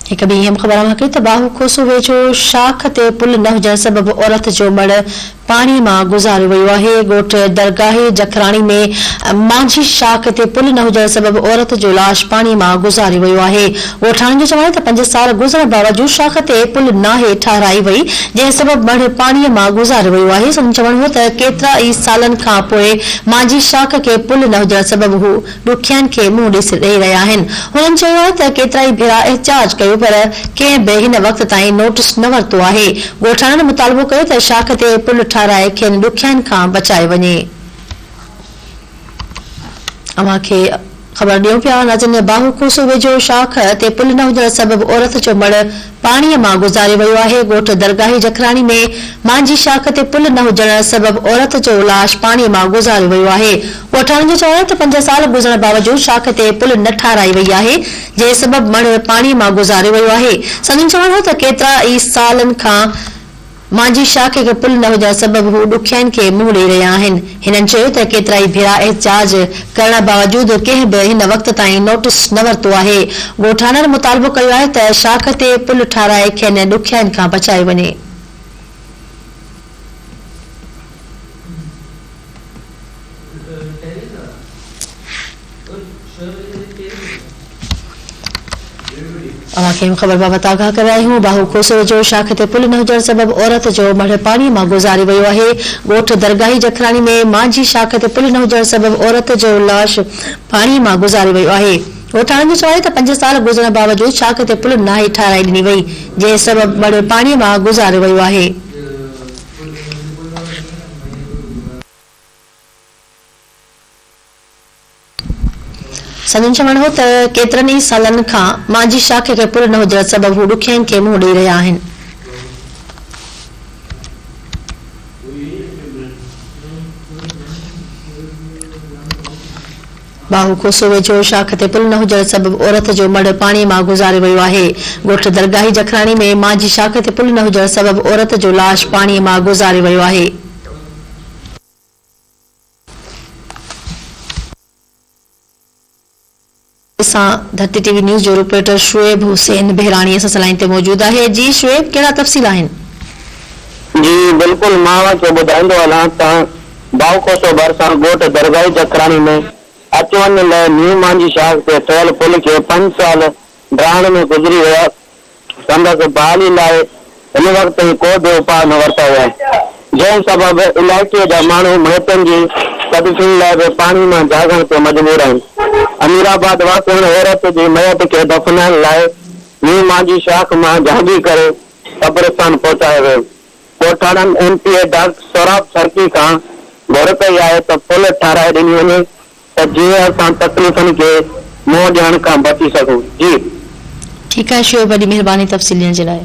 هڪ ٻي اهم خبر اوهان کي ته باهو کوسو ويجهو شاخ تي پل نه هجڻ سبب عورت جو مڙهه پاڻي مان گذاريو ويو آهي. ڳوٺ درگاهي جکراڻي ۾ مانجهي شاخ تي پل نه هجڻ سبب عورت جو لاش پاڻي مان گذاريو ويو آهي. ڳوٺاڻن جو چوڻ آهي ته پنج سال گذرڻ باوجود شاخ تي پل ناهي ٺاهرائي وئي جنهن سبب مڙهه پاڻي مان گذاريو ويو آهي. سندن چوڻ هو ته ڪيترا ئي سالن کان پوء مانجهي شاخ کي پل نه هجڻ سبب هو ڏکين کي منهن ڏس ڏئي رهيا آهن. هنن چيو آهي ته ڪيترائي ڀيرا احتجاج ڪيو پر ڪنهن به هن وقت تائين نوٽس نه ورتو آهي. ڳوٺاڻن مطالبو ڪيو ته شاخ تي پل ٺاهرائي کين ڏکين کان بچائي وڃي. اوهان کي خبر ڏيون پيا نازنين باهو کوسو ويجهو شاخ تي پل نه هجڻ سبب عورت جو مڙهه پاڻيء مان گذاريو ويو آهي. ڳوٺ درگاهي جکراڻي ۾ مانجهي شاخ تي پل نه هجڻ سبب عورت جو لاش پاڻيء مان گذاريو ويو آهي. ڳوٺاڻن جو چوڻ آهي ته پنج سال گذرڻ باوجود شاخ تي پل نه ٺاهرائي وئي آهي، جنهن سبب مڙهه پاڻيء مان گذاريو ويو آهي. سندن چوڻ هو ته ڪيترا ئي سالن کان. مانجهي شاخ کي پل نه هجڻ سبب هو ڏکيائين کي منهن ڏئي رهيا آهن. هنن چيو ته ڪيترائي ڀيرا احتجاج ڪرڻ باوجود ڪنهن به هن وقت تائين نوٽيس نه ورتو آهي. ڳوٺاڻن مطالبو ڪيو آهي ته شاخ تي پل ٺاهرائي کين ڏکيائين کان بچايو وڃي. اوهان کي ان خبر بابت آگاهه ڪري رهيا آهيون باهو کوسر جو شاخ تي پل نه هجڻ سبب عورت جو مڙهه پاڻي مان گذاري ويو آهي ڳوٺ درگاهي جکراڻي ۾ مان جي شاخ تي پل نه هجڻ سبب عورت جو لاش پاڻي مان گذاري ويو آهي ڳوٺاڻن جو چوڻ آهي ته پنج سال گذرڻ باوجود شاخ تي پل ناهي ٺهرائي ڏني وئي جنهن سبب مڙهه پاڻي مان گذاري ويو آهي. سندن چوڻ هو ته ڪيترن ئي سالن کان مان جي شاخ کي پر نه هجڻ سبب هو ڏکيائين کي منهن ڏئي رهيا آهن. باهو کوسو ويجهو شاخ تي پل نه هجڻ سبب عورت جو مڙهه پاڻي مان گذاريو ويو آهي. ڳوٺ درگاهي جکراڻي ۾ مانجهي شاخ تي پل نه هجڻ سبب عورت جو لاش پاڻي مان گذاريو ويو آهي. اسان ڌرتي ٽي وي نيوز جو رپورٽر شعيب حسين بهراڻي اسان سان لائين تي موجود آهي جي شعيب ڪهڙا تفصيل آهن. جي بلڪل مان اوهان کي ٻڌائيندو هلان ته ڀائو کوسو ڀرسان ڳوٺ درگاهي جکراڻي ۾ اچ وڃ لئه نيو مانجهي شاخ تي ٺهيل پل کي پنج سال ڊاهڻ ۾ گذري ويا سندس بحالي لاء هن وقت تائين ڪو به اپاء نه ورتا ويا جنهن سبب علائقي جا ماڻهو ميتن جي تدفين لاء به پاڻي مان جهاڳڻ تي مجبور آهن اميرآباد واسين عورت جي ميت کي دفنائڻ لاء نيو مانجهي شاخ مان جهاڳي ڪري قبرستان پهچايو ويو. ڳوٺاڻن M P A doctor Sohrab Sarki کان گهر ڪئي آهي ته پل ٺاهرائي ڏني وڃي ته جيئن اسان تڪليفن کي منهن ڏيڻ کان بچي سگهون جي. ٺيڪ آهي شعيب وڏي مهرباني تفصيل ڏيڻ جي لاء.